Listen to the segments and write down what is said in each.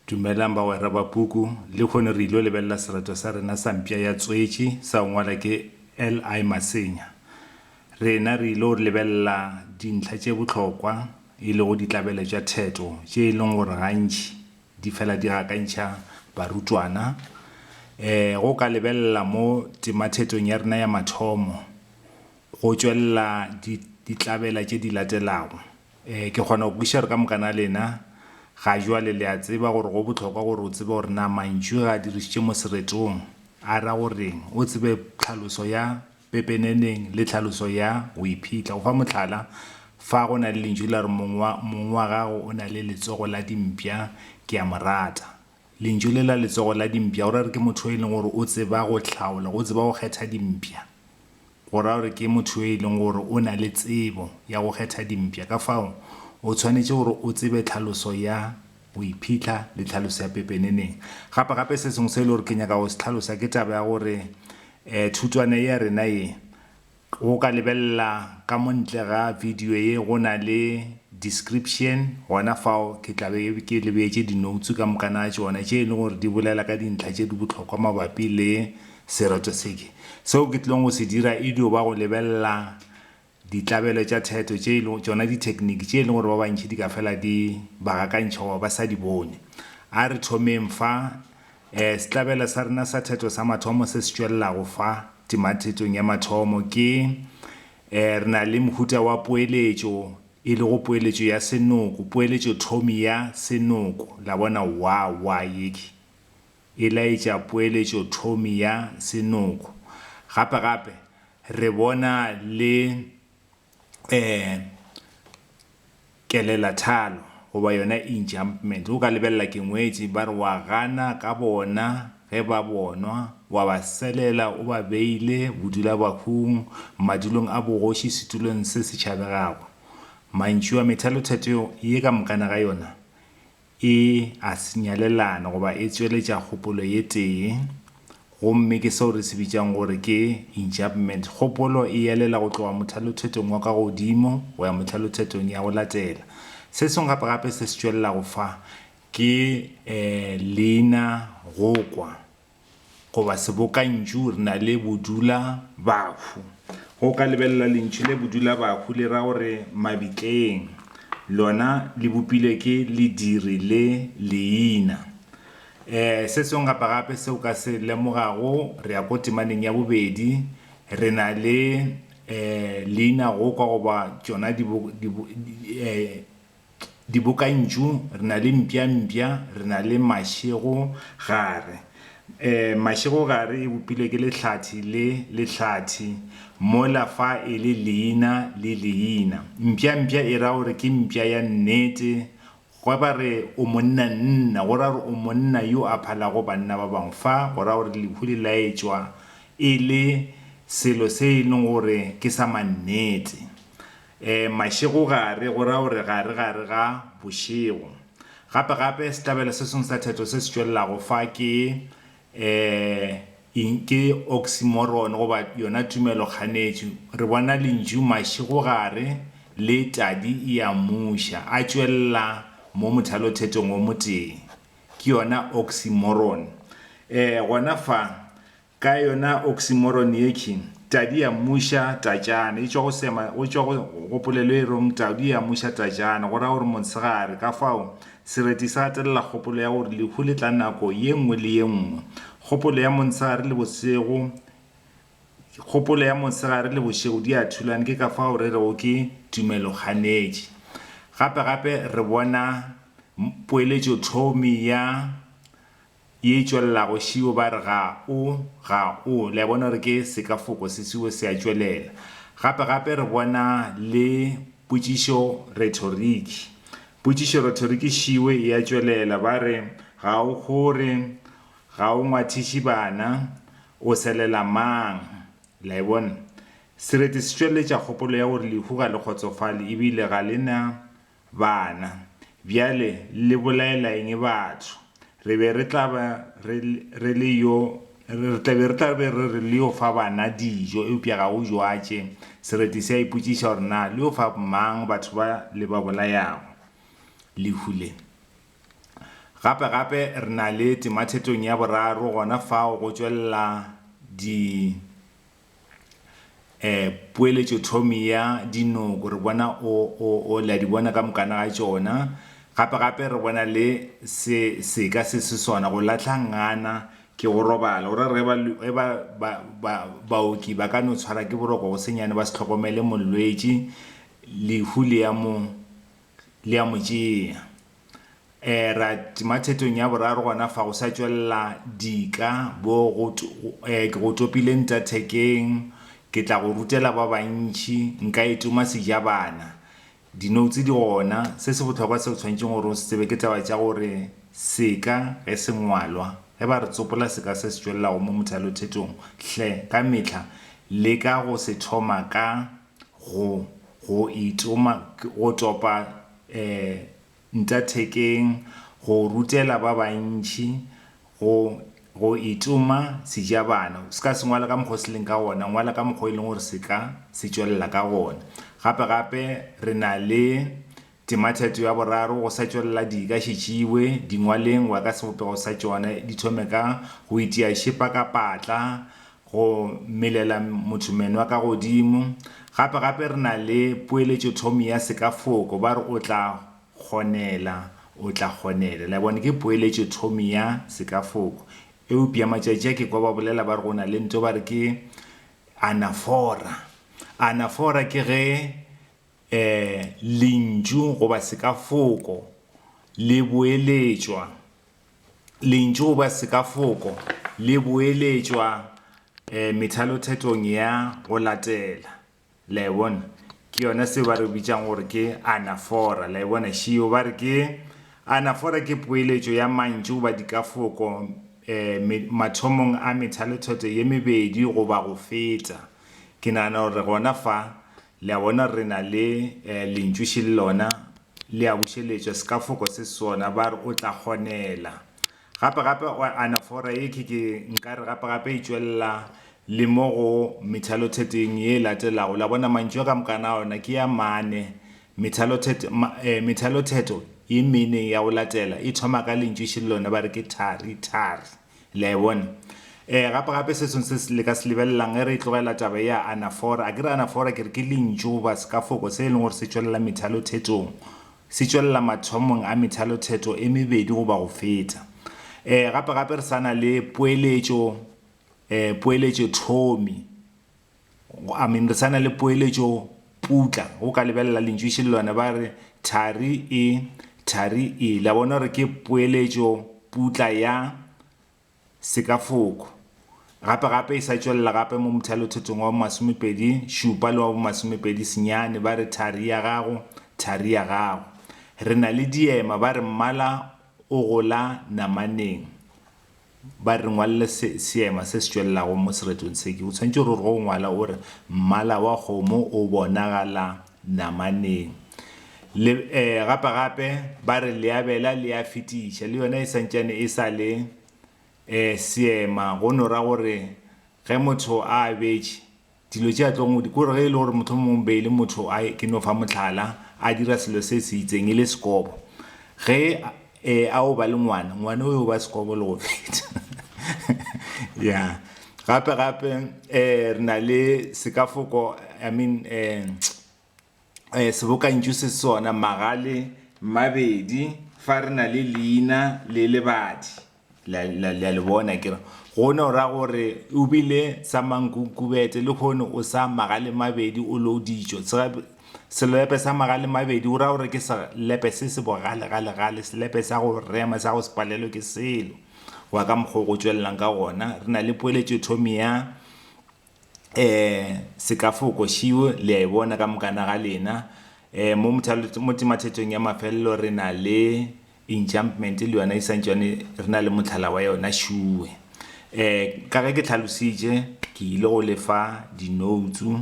Dumelang bagwera ba puku, lekhono re ilo lebelela sereto sa rena sa mpša ya tswetši sa go ngwala ke LI Masenya. Rena re ilo lebelela dintlha tše bohlokwa e lego ditlabelo tša theto tše e leng gore gantši di fela di gakantšha barutwana. E, go ka lebelela mo temathetong ya rena ya mathomo go tšwelela di, ditlabela tše di latelago. Ee, ke kgona go kwešiša gore ka moka na lena ga jwale le a tseba gore go bohlokwa gore o tsebe gore na mantšu ge a dirišitše mo seretong a ra go reng, o tsebe tlhaloso ya pepeneneng le tlhaloso ya go iphitlha. Go fa mohlala, fa go na le lentšu la re mong wa, mong wa gago o na le letsogo la dimpša, ke a mo rata. Lentšu le la letsogo la dimpša go ra re ke motho yo e leng gore o tseba go hlaola, o tseba go kgetha dimpša. go ra gore ke motho yo e leng gore o na le tsebo ya go kgetha dimpša ka fao o tshwanetše gore o tsebe tlhaloso ya go iphitlha le tlhaloso ya pepeneneng gape gape se sengwe se e le gore ke nyaka go se tlhalosa ke taba ya gore um thutwana ya rena ye go ka lebelela ka montle ga video ye go na le description gona fao ke tlabe ke lebetse di-notes ka mokana a tsona tše e leng gore di bolela ka dintlha tše di bohlokwa mabapi le Sereto seke. Seo ke tlileng go se dira e dio ba go lebelela ditlabelo tša theto tše e lego tšona dithekniki tše e lego gore ba bantši di ka fela di ba gakantšha goba ba sa di bone. A re thomeng fa. Um Setlabelo sa rena sa theto sa mathomo se se tšwelelago fa timathetong ya mathomo ke, um re na le mohuta wa poeletšo e lego poeletšo ya senoko, poeletšothomi ya senoko. La bona? Wa, wa, yeke. e laetša poeletšothomi ya senoko. Gape-gape re bona le e kelelathalo goba yona enjumpment. O ka lebelela ke ngwetši, ba re wa gana ka bona ge ba bonwa, wa ba selela o ba beile bodulabahung, madulong a bogoši, setulong se se tšhabegago. Mantšu a methalotheteo ye ka mokana ga yona E a sinyalelana goba e tsweletša kgopolo ye tee, gomme ke seo re se bitšang gore ke enjambment. Kgopolo e elela go tloga mothalothetong wa ka godimo go ya mothalothetong ya go latela. Se sengwe gape gape se se tšwelelago fa ke, eh, leina go kwa. goba sebokantšu re na le bodula bahu go ka lebelela lentšu le bodula bahu le ra gore mabitleng lona le bopilwe ke lediri le leina um se sengwe gape gape se o ka se lemogago re ya ko temaneng ya bobedi re na le um leina go kwa goba tšona um dibokantšu, re na le mpjampja, re na le mašego-gare. E, mašego-gare e bopilwe ke lehlathi le lehlathi, mola fa e le leina le leina. Mpjampja e ra gore ke mpja ya nnete. Ge ba re o monnanna, go ra gore o monna yo a phalago banna ba bangwe. Fa go ra gore lehu le laetšwa e le selo se e leng gore ke sa mannete. E, mašego gare, go ra gore gare gare ga bošego. Gape gape sehlabelo se sengwe sa theto se se tšwelelago fa ke e, ing, ke oxymoron goba yona tumelo-kganetšo. Re bona lentšu mašego gare le tadi ea muša a tšwelela mo mothalothetong o motee. Ke yona oxymoron. E, gona fa, Ka yona oksimoron yekhi, tadi ya mmuša tatšana, e tšwa go sema, go tšwa go, go polelo e rong tadi ya mmuša tatšana, go ra gore motshegare. Kafao, sereti se gatelela kgopolo ya gore lehu le tla nako ye nngwe le ye nngwe, kgopolo ya montshegare le bošego, kgopolo ya montshegare le bošego di a thulana, ke ka fao re rego ke tumelo-kganetši. Gape-gape re bona poeletšothomi ya Ye e tšwelelago šiwo ba re ga o, ga o. Le a bona gore ke sekafoko se šiwo se a tšwelela. Gape, gape re bona le potšišo retoriki. Potšišo retoriki šiwe e a tšwelela, ba re, Ga o kgore, ga o ngwathiši bana, o selela mang? Le a e bona? Sereti se tšweletša kgopolo ya gore lehu ga le kgotsofale ebile ga le na Bana, bjale le bolaela eng batho? Re be re tla ba re, re le yo, re tla be re tla be re re le yo fa bana dijo, eupša ga go jwatše. Sereti se a ipotšiša gore na le yo fa mang batho ba le ba bolayago lehu le. Gape, gape re na le temathetong ya boraro gona fao go tšwelela di, eh, poeletšo thomi ya dinoko re bona o, o, o la di bona ka mokana ga tšona gape gape re bona le se seka se se sona go lahla ngana ke go robala o ra re ge ba, ba, ba, baoki ba ka no tshwara ke boroko go senyane ba se tlhokomele molwetši lehu le ya mo le ya mo tšea E ra tima thetong ya boraro gona fa go sa tšwelela dika bo go e ke go topile nta thekeng ke tla go rutela ba bantši nka e tuma sejabana di notes di gona se se botlhokwa se o tshwanetseng gore o se tsebe ke taba tša gore seka ge se ngwalwa ge ba re tsopola seka se se tšwelelago mo mothalothetong hle ka mehla le ka go se thoma ka Go, go itoma, go topa e, nta thekeng, go rutela ba bantši, go, go itoma sejabana. O se ka se ngwala ka mokgwa o se leng ka gona, ngwala ka mokgwa o e leng gore se ka se tšwelela ka gona. Gape, gape re na le Tematheto ya boraro go sa tšwelela di ka šetšiwe dingwaleng wa ka sebopego sa tšone di thome ka go itia šepa ka patla go melela motho menwa ka godimo. Gape gape re na le poeletšothomi ya sekafoko ba re o tla kgonela, o tla kgonela. Le a bona, ke poeletšothomi ya sekafoko. Eupša matšatši a ke kwa ba bolela ba re go na le nto ba re ke anafora. Anafora ke ge e, lentšu goba sekafoko le boeletšwa, lentšu goba sekafoko le boeletšwa e, methalothethong ya go latela. La e bona? Ke yona seo ba re bitšang gore ke anafora. La e bona šio? Ba re ke anafora ke poeletšo ya mantšu goba dikafoko e, me, mathomong a methalotheto ye mebedi goba go feta. Ke nagana gore gona fa Le a bona, re na le Lentšu še le lona le a bušeletšwa, sekafoko se sona. Ba re, O tla kgonela. Gape, gape, o anafora ye, ke, ke nka re, gape, gape e tšwelela le mo go methalotheteng ye e latelago. La bona, mantšu a ka mokana a ona ke a mane. Methalothet, ma, eh, methalothetho ye mene ya go latela e thoma ka Lentšu še le lona. Ba re ke thari, thari. Le a e bona? Ee, gape-gape se sengwe se le ka se lebelelang, ge re e tlogela taba ye ya anafora. A ke re anafora ke re ke lentšu goba sekafoko se e leng gore se tšwelela methalothetong, se tšwelela mathomong a methalothetho e mebedi goba go feta. Ee, gape-gape re sa na le poeletšo, ee, poeletšothomi. I mean re sa na le poeletšo putla go ka lebelela lentšu šellwane ba re thari e thari e la bona gore ke poeletšo putla ya sekafoko gape gape e sa tšwelela gape mo mothalothetong wa bomasomepedi šupa le wa bomasomepedi senyane ba re thari ya gago thari ya gago re na le diema ba re mmala o gola namaneng ba re ngwalle se, seema se se tšwelelago mo seretong se, ke o tshwanetse gore go ngwala o re mmala wa kgomo o bonagala namaneng le eh, gape gape ba re leabela le a fetiša le yona e santšane e sa le eh, seema go no ra gore ge motho a abetše Dilo tše a tlong go di, ke gore ge e le gore mohlomongwe be e le motho a, ke no fa mohlala, a dira selo se se itseng, e le sekobo. Ge e, a o ba le ngwana, ngwana o yo ba sekobo le go feta. Ya. Gape-gape um re na le sekafoko, I mean um. eh, sebokantšu se sona magale mabedi fa re na le leina le lebadi la le bona ke re gone o ra gore o bile sa mankunkubete le gone o sa magale mabedi o lo ditšo selepe sa magale mabedi o ra gore ke selepe se se bogalegalegale selepe sa go rema sa go se palelo ke selo wa ka mokgwa go tšwelelang ka gona re na le poeletšo thomi ya um sekafoko šiwo le a e bona ka mokana ga lena um mo mo temathethong ya mafelelo re na le enjumpment le yona e santšwane re na le mohlala wa yona šuwe um ka ge ke tlhalositše ke ile go lefa dinoutsu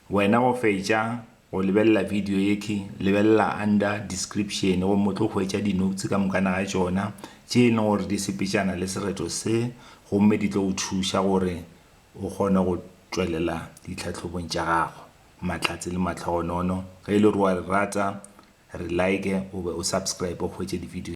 wena go fetša go lebelela video yeke lebelela under description go mo tlo hwetša dinoutsu ka mokana ga tšona tše e leng gore di sepetšana le sereto se gomme di tlo go thuša gore O kgona go tšwelela ditlhahlobong tša gago mahlatse le mahlogonono. Ge e le gore o a re rata, re like goba o subscribe o hwetše divideo.